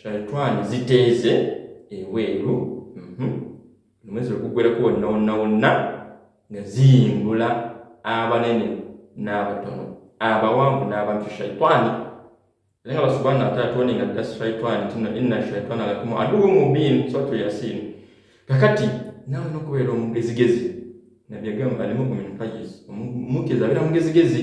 shaitwani ziteeze ebweru mhm. omwezi ogugwereko wonna wonna wonna nga ziyimbula abanene n'abatono abawanvu n'abantu shaitwani era nga basubhana wataala tuone nga dda shaitwani tino inna shaitwana lakum aduwu mubiin suratu yasin kakati nawe nokubeera omugezigezi nabbi agamba alimuku min fayiz omukezi abeera mugezigezi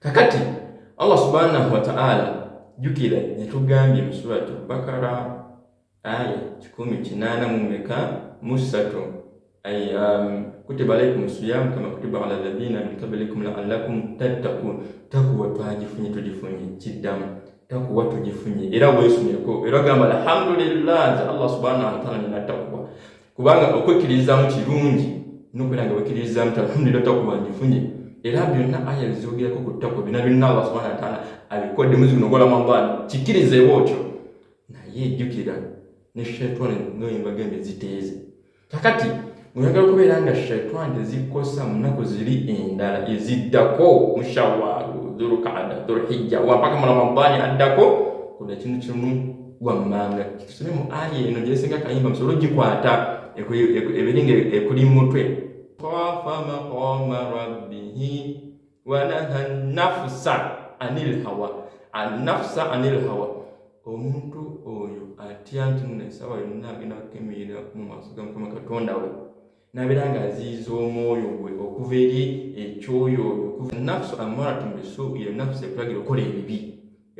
kakati Allah subhanahu wa ta'ala jukira yatugambye mu surati Bakara aya kikumi kinaana mu meka mu ssatu um, kutiba alaikum siyamu kama kutiba ala ladhina min qablikum la'allakum tattaqun takuwa twagifunye tugifunye kiddamu takuwa tugifunye era weesumeko era gamba alhamdulillah nze Allah subhanahu wa ta'ala nina takuwa kubanga okwekkiririzaamu kirungi nokubeera nga wekkiririzaamu ti alhamdulillah takuba njifunye era byonna aya bizoogerako ku takwa byonna byonna allah subhana wataala abikodde muzi guno gwa ramadan kikkirizeewo otyo naye jjukira ne shaitani noyembaga embe ziteeze kakati oyagala okubeera nga shaitani tezikosa mu nnaku ziri endala eziddako mushawaru dhulukada dhulhijja wampaka mu ramadani addako kuna kinu kimu wammanga tusome mu aya eno gyesinga kayimba musobole ogikwata ebiri nga ekuli mu mutwe khafa maqama rabbihi wanaha nafusa anil hawa anafusa anil hawa omuntu oyo atya nti nno esawa yonna agenda kukemerera mu maaso ga mukama katonda we nabeera nga aziyiza omwoyo gwe okuva eri ekyoyo oyo okuva nafsu amaratu bisu eyo nafsu ekulagira okukola ebibi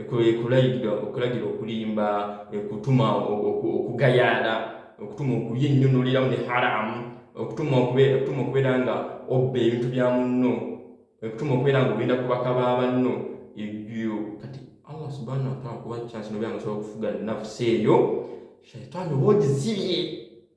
ekulagira okulagira okulimba ekutuma okugayaala okutuma okulya ennyo noliramu ne haramu okutuma okubeera nga obba ebintu bya munno okutuma okubeera nga ogenda kubaka ba banno ebyo kati allah subhanahu wataala kuba kyansi nobeera nga osobola okufuga nafsu eyo shaitaani oba ogizibye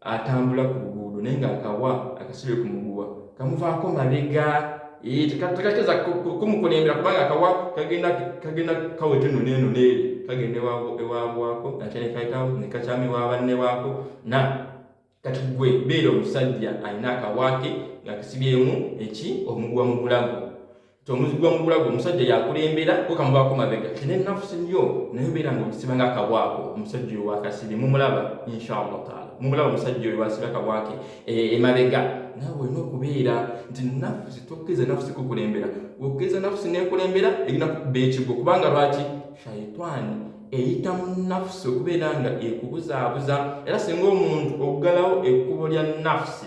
atambula ku luguudo naye nga akawa akasibe ku muguwa kamuvaako mabega eh, tekateza kumukulembera kubanga akawa kagenda kagenda kaweta eno neeno neeri kagenda ewabwako ate nekayitawo nekakyama ewabanne baako na kati gwe beera omusajja alina akawaake ngakisibyemu eki omuguwa mu bulago tomuzigwa mu bulago omusajja yakulembera okamuvaako mabega kina enafusi yo naye beera nga okisiba nga akabwako omusajja oyo wakasibi mumulaba inshallah taala mumulaba omusajja oyo wasiba akabwake eh, emabega nawe olina okubeera nti nafusi tokkiriza nafusi kukulembera okiriza nafusi nekulembera erina kukuba ekigwo kubanga lwaki shaitani eyita mu nafusi okubeera nga ekubuzaabuza era singa omuntu okugalawo ekkubo lya nafusi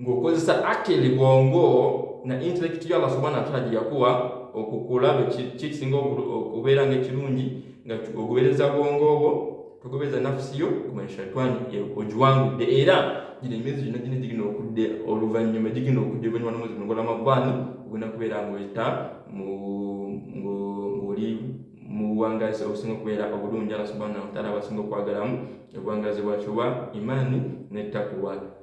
ng'okozesa akili bwongo na intellect yo Allah subhanahu wa ta'ala gye yakuwa okukulaba kyekisinga okubeera nga ekirungi nga ogobereza bwongo obwo togobereza nafusi yo kumanya shaitani ogiwangudde era gino emyezi gino gino gigina okudde oluvannyuma gigina okudde oluvannyuma n'omwezi guno gw'Ramadhani ogenda kubeera ng'oyita ng'oli mu buwangazi obusinga okubeera obulungi Allah subhanahu wa ta'ala abasinga okwagalamu obuwangazi bwakyo bwa imaani ne takuwa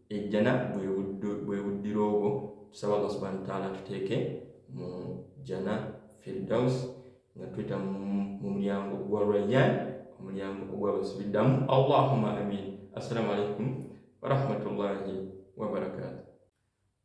ejjana bwe buddira obwo tusaba allah subhana wataala tuteeke mu jjana firdaus nga tuyita mu mulyango gwa rayyan omulyango ogwabasubiddamu allahuma amin assalamu alaikum warahmatullahi wabarakatu